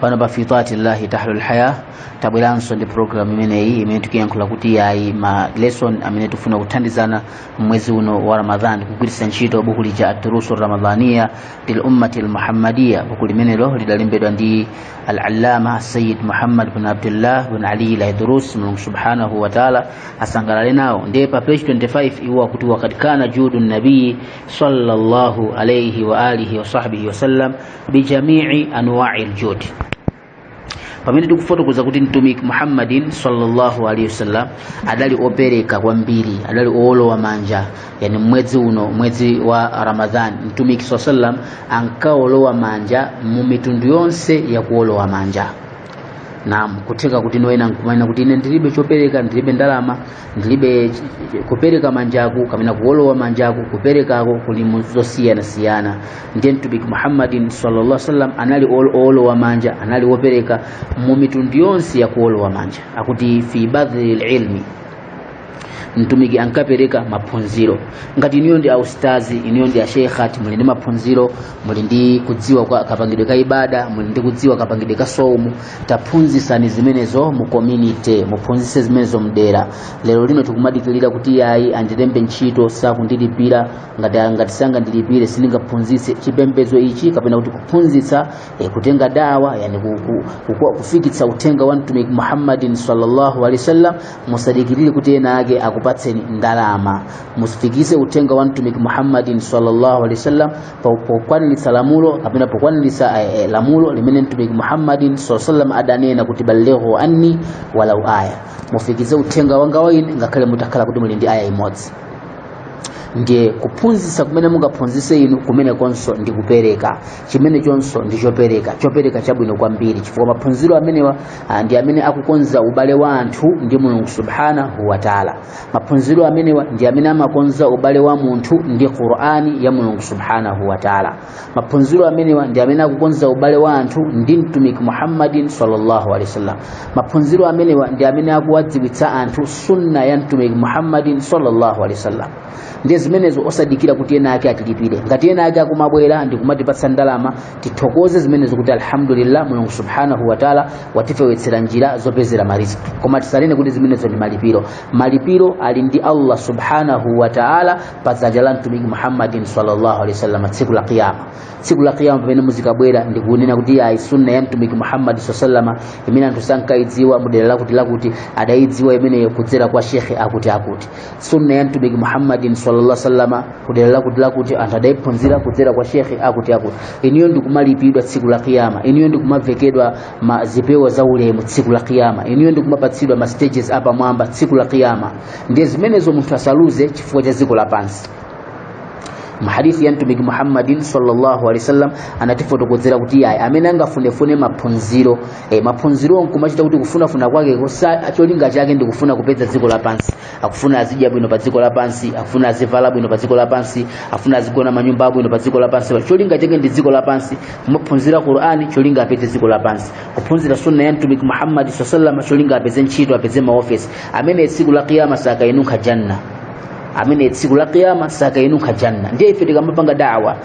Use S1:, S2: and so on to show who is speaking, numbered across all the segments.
S1: pano pa fitati llahi tahlul haya tabweranso ndi programu imeneyi imene tikuyankhula kuti yayi ma lesson amene tifuna kuthandizana mwezi uno wa ramadhan kugwiritsa ntchito buku lija aturusu ramadhaniya lil ummati lmuhammadiya buku limenelo lidalembedwa ndi al-allama sayid muhammad bin abdullah bin ali laidrus mulungu subhanahu wa taala asangalale nawo ndiye pa page 25 iwo akuti wakad kana judu nabii sallallahu alaihi wa alihi wa sahbihi wasallam bijamii anwai ljudi pamene tikufotokoza kuti mtumiki muhammadin sallallahu alaihi wasallam adali opereka kwambiri adali owolowa manja yani mwezi uno mwezi wa ramadhan mtumiki saa sallam ankaolowa manja mu mitundu yonse ya kuolowa manja nam kutheka kuti ena nkumanena kuti ine ndilibe chopereka ndilibe ndalama ndilibe ch- ch- kupereka manjaku kapena kuwolowa manjaku kuperekako kuli mu zosiyanasiyana ndiye mtumiki muhammadin sallallahu alaihi wasallam anali ol- owolowa manja anali wopereka mu mitundu yonse ya kuwolowa manja akuti fi badhli lilmi mtumiki ankapereka maphunziro ngati inuyo ndi austazi inuyo ndi ashekhat muli ndi maphunziro muli ndi kudziwa kwa kapangidwe ka ibada muli ndi kudziwa kapangidwe ka somu taphunzisani zimenezo mu community muphunzise zimenezo mdera lero lino tikumadikirira kuti yayi andilembe ntchito sakundilipira ngati ngati sangandilipire sindingaphunzise chipembedzo ichi kapena kuti kuphunzitsa eh, kutenga dawa yani ku, ku, ku, ku, kufikitsa uthenga wa mtumiki muhammadin sallallahu alaihi wasallam musadikirire kuti ena ake akupatseni ndalama mufikise uthenga wa mtumiki muhammadin sallallahu alaihi wasallam po- pokwaniritsa lamulo kapena pokwaniritsa eh, eh, lamulo limene mtumiki muhammadin saa salam adanena kuti ballighu anni walau aya mufikise uthenga wanga wa ine ngakhale mutakhala kuti muli ndi aya imodzi ndiye kuphunzitsa kumene mungaphunzitse inu kumenekonso ndi kupereka chimenechonso ndi chopereka chopereka chabwino kwambiri chifukwa maphunziro amenewa ah, ndi amene akukonza ubale wa anthu ndi mulungu subhanahu wataala maphunziro amenewa ndi amene amakonza ubale wa munthu ndi qur'ani ya mulungu subhanahu wa taala maphunziro amenewa ndi amene akukonza ubale wa anthu ndi mtumiki muhammadin sallallahu alaihi wasallam maphunziro amenewa ndi amene akuwadziwitsa anthu sunna ya mtumiki muhammadin sallallahu alaihi wasallam ndiye zimenezo osadikira kuti ena ake atilipire ngati ena ake akumabwera ndi kumatipatsa ndalama tithokoze zimenezo kuti alhamdulillah mulungu subhanahu wataala watifewetsera njira zopezera mariziki koma tisanene kuti zimenezo ndi malipiro malipiro ali ndi allah subhanahu wataala pa dzanja la mtumiki muhammadin sallallahu alaihi wasallam tsiku la qiyama tsiku la qiyama pamene muzikabwera ndikunena kuti ayi sunna ya mtumiki muhammadi sallama imene anthu sankayidziwa mudera lakuti lakuti adayidziwa imeneyo kudzera kwa shekhe akuti akuti sunna ya mtumiki muhammadin sallallahu alaihi wasallam kudera lakuti lakuti anthu adayiphunzira kudzera kwa shekhe akuti akuti iniyo ndikumalipidwa tsiku la kiyama iniyo ndikumavekedwa ma zipewa za ulemu tsiku la kiyama iniyo ndikumapatsidwa ma stages apamwamba tsiku la kiyama ndiye zimenezo munthu asaluze chifukwa cha dziko lapansi mahadithi ya mtumiki muhammadin sallallahu alaihi wasallam anatifotokozera kuti yayi amene angafunefune maphunziro eh, maphunzirowo nkumachita kuti kufunafuna kwake kosa- cholinga chake ndikufuna kupeza dziko lapansi akufuna azidya bwino pa dziko lapansi akufuna azivala bwino pa dziko lapansi akufuna azigona manyumba abwino pa dziko lapansi cholinga chake ndi dziko lapansi kumaphunzira qur'ani cholinga apeze dziko lapansi kuphunzira sunna ya mtumiki muhammadi saa salama cholinga apeze ntchito apeze maofesi ameneyo tsiku la kiyama sakainunkha janna ameneyo tsiku la kiyama sakainunkha janna ndiye ife tikamapanga dawa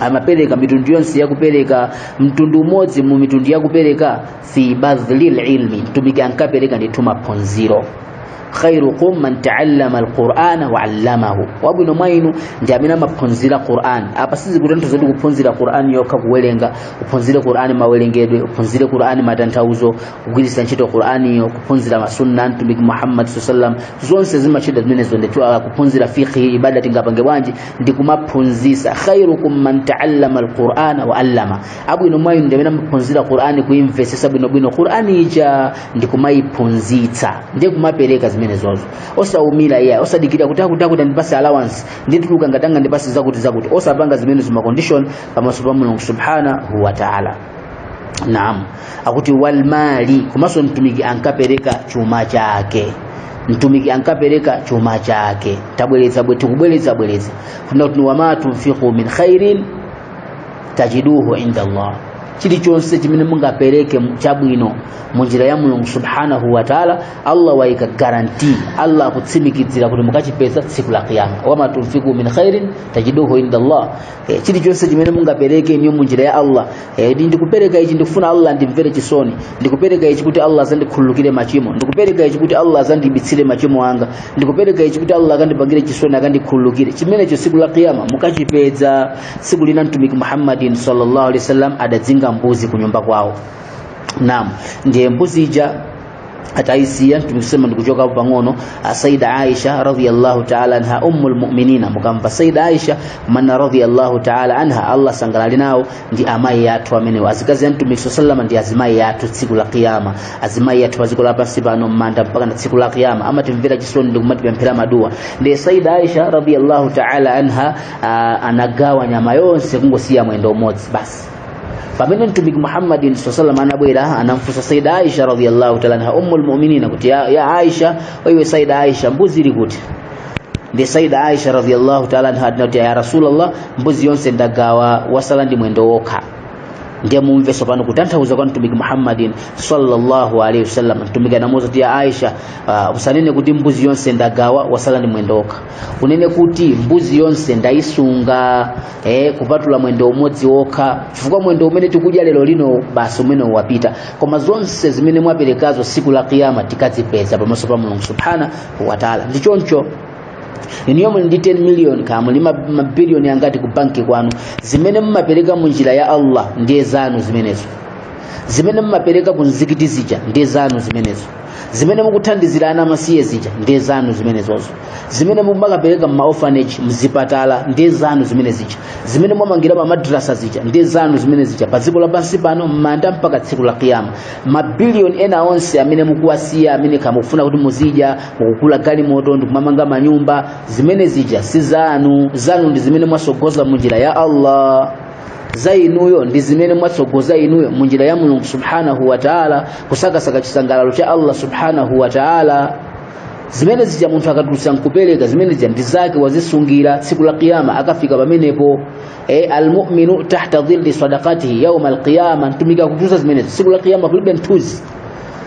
S1: amapereka mitundu yonse yakupereka mtundu umodzi mu mitundu yakupereka fi badhlil ilmi mtumiki ankapereka ndithu maphunziro khairukum man taallama alqur'ana wa 'allamahu wabwino mwa inu ndi amene amaphunzira qur'an apa sizikutanthauza kuti kuphunzira qur'an yokha kuwerenga uphunzire qur'an mawerengedwe uphunzire qur'an matanthauzo kugwiritsa ntchito qur'an iyo kuphunzira masunna mtumiki muhammad sallallahu alaihi wasallam zonse zimatengera zimenezo ndithu ah, kuphunzira fiqh ibada tingapange bwanji ndi kumaphunzisa khairukum man taallama alqur'ana wa allama abwino mwa inu ndi amene amaphunzira qur'ani kuimvesesa bwinobwino qur'ani ija ndi kumayiphunzitsa ndi kumapereka zimenezozo osaumira iya osadikira kuti akuti akuti andipase allowance ndituluka ngatanga andipase zakuti zakuti osapanga zimenezo macondition pamaso pa mulungu subhanahu wa ta'ala naam akuti walmali komanso mtumiki ankapereka chuma chake mtumiki ankapereka chuma chake tabweretsa bwe- tikubweretsa bweretsa funa kuti wama tunfiqu min khairin tajiduhu inda allah chilichonse chimene mungapereke mu- chabwino mu njira ya mulungu subhanahu wa taala allah waika garanti allah akutsimikizira kuti mukachipeza tsiku la kiyama wama tunfiqu min khairin tajiduhu inda allah e, chilichonse chimene mungapereke inuyo munjira ya allah e, ndi- ndikupereka ichi ndikufuna allah andimvere chisoni ndikupereka ichi kuti allah azandikhululukire machimo ndikupereka ichi kuti allah azandibitsire machimo anga ndikupereka ichi kuti allah akandipangire chisoni akandikhululukire chimenecho siku la kiyama mukachipeza siku lina mtumiki muhammadin sallallahu alaihi wasallam adazinga mbuzi kunyumba kwawo naam ndiye mbuzi ija ataisiya tikusema ndikuchoka hapo pang'ono saida aisha radhiallahu taala anha ummu lmuminina mukamva saida aisha mana radhiallahu taala anha allah asangalale nawo ndi amayi yathu amenewo azikazi a mtumiki saa salama ndi azimayi yathu tsiku la kiyama azimayi yathu padziko lapansi pano mmanda mpaka na tsiku la kiyama amatimvera chisoni ndi kumatipemphera maduwa ndi saida aisha radhiallahu taala anha ah, anagawa nyama yonse kungosiya mwendo umodzi basi pamene mtumiki muhammadin saa salam anabwera anamfunsa saida aisha radiallahu taala anha ummu lmuminina kuti ya, ya aisha iwe saida aisha mbuzi ili kuti ndi saida aisha radiallahu taala anha anati ya rasulllah mbuzi yonse ndagawa wasala ndi mwendo wokha ndiye mumve sopano kutanthauza kwa mtumiki muhammadin sallallahu alaihi wasallam mtumiki anamuuza kuti ya aisha uh, usanene kuti mbuzi yonse ndagawa wasala ndi mwendo wokha unene kuti mbuzi yonse ndayisunga eh, kupatula mwendo umodzi wokha chifukwa mwendo umene tikudya lero lino basi umene wapita koma zonse zimene mwaperekazo siku la kiyama tikazipeza pamaso pa mulungu subhanahu wa taala ndi choncho inuyo muli ndi 10 million kaya muli ma- mabiliyoni angati ku banki kwanu zimene mumapereka mu njira ya allah ndiye zanu zimenezo zimene mumapereka ku nzikiti zija ndiye zanu zimenezo zimene mukuthandizira ana amasiye zija ndiye zanu zimenezozo zimene mumakapereka mmaorphanage mzipatala ndiye zanu zimene zija zimene mwamangira ma madrasa zija ndiye zanu zimene zija pa dziko lapansi pano mmanda mpaka tsiku la kiyama mabiliyoni ena onse amene mukuwasiya amene kaya mukufuna kuti muzidya mukugula galimoto ndikumamanga manyumba zimene zija si zanu zanu ndi zimene mwasogoza munjira ya allah za inuyo ndi zimene mwatsogoza inuyo mu njira ya mulungu subhanahu wa taala kusakasaka chisangalalo cha allah subhanahu wa taala zimene zija munthu akatulutsa nkupereka zimene zija ndi zake wazisungira tsiku la kiyama akafika pamenepo e, almuminu tahta dhilli sadakatihi yauma alqiyama mtumiki akutiuza zimenezo tsiku la kiyama kulibe mthunzi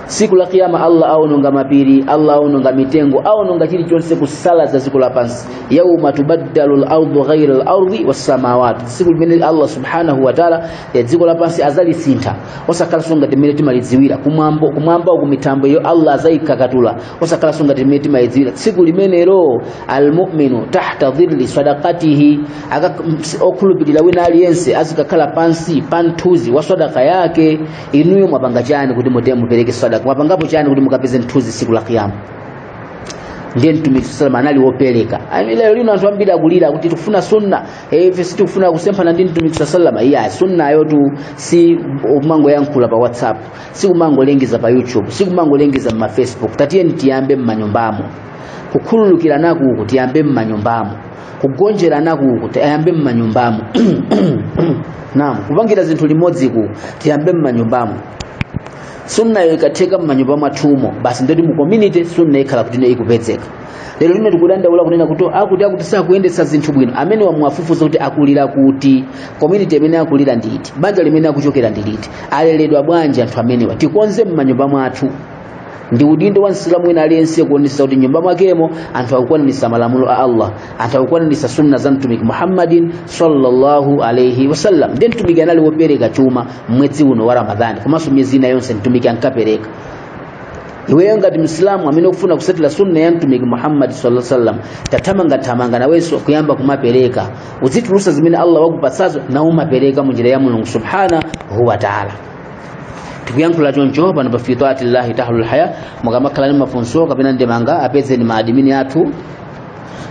S1: tsiku la kiyama allah aononga mapiri allah aononga mitengo aononga chilichonse kusalaza dziko lapansi yauma tubaddalu lardu ghaira lardi wassamawati tsiku limene allah subhanahu wataala ya dziko lapansi azalisintha osakhalanso ngati mmene timalidziwira kumwamba kumwamba uku mitambo iyo allah azayikakatula osakhalanso ngati mmene timalidziwira tsiku limenelo almuminu tahta dhilli sadakatihi Aka- ms- okhulupirira wina aliyense azikakhala pansi pa mthunzi wa sadaka yake inuyo mwapanga chani kuti mute mupereke sadaka mwapangapo chani kuti mukapeze mthunzi siku la kiyama ndiye mtumiki salama anali wopereka Ami lero lino anthu ambiri akulira kuti tikufuna sunna eh, ife sitikufuna kusemphana ndi mtumiki sa salama iya sunnayotu si kumangoyankhula pa whatsapp si kumangolengeza pa youtube si kumangolengeza mma facebook tatiyeni tiyambe mmanyumbamo kukhululukiranaku kutiyambe mmanyumbamo kugonjeranaku kutiyambe m'manyumbamo naam kupangira zinthu limodziku tiyambe m'manyumbamo sunnayo ikatheka m'manyumba mwathumo basi ndoti mu community sunna ikhala kuti ine ikupezeka lero lino tikudandaula kunena kuti akuti akuti sakuyendetsa zinthu bwino amene wamuwafufuza kuti akulira kuti community imene akulira ndi iti banja limene akuchokera ndi liti aleredwa bwanji anthu amenewa tikonze m'manyumba mwathu ndi udindo wa msilamu wina aliyense kuonetsetsa kuti nyumba mwakemo anthu akukwanitsa malamulo a allah anthu akukwanitsa sunna za mtumiki muhammadin sallallahu alaihi wasallam ndi mtumiki anali wopereka chuma mwezi uno wa ramadhani komanso miyezi ina yonse mtumiki ankapereka iweyo ngati msilamu amene ukufuna kusatira sunna ya mtumiki muhammadi sala sallam thamangathamanga nawenso kuyamba kumapereka uzitulusa zimene allah wakupatsazo nkumapereka munjira ya mulungu subhanahu wa taala tikuyankhula choncho pano pa fi taatillahi tahlul haya mukamakhala ndi mafunso kapena ndemanga apezeni ma adimini athu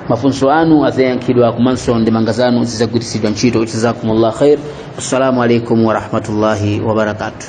S1: mafunso anu azayankhidwa komanso ndemanga zanu zizagwiritsidwa ntchito jazakumullah khair assalamu alaikum warahmatullahi wabarakatuh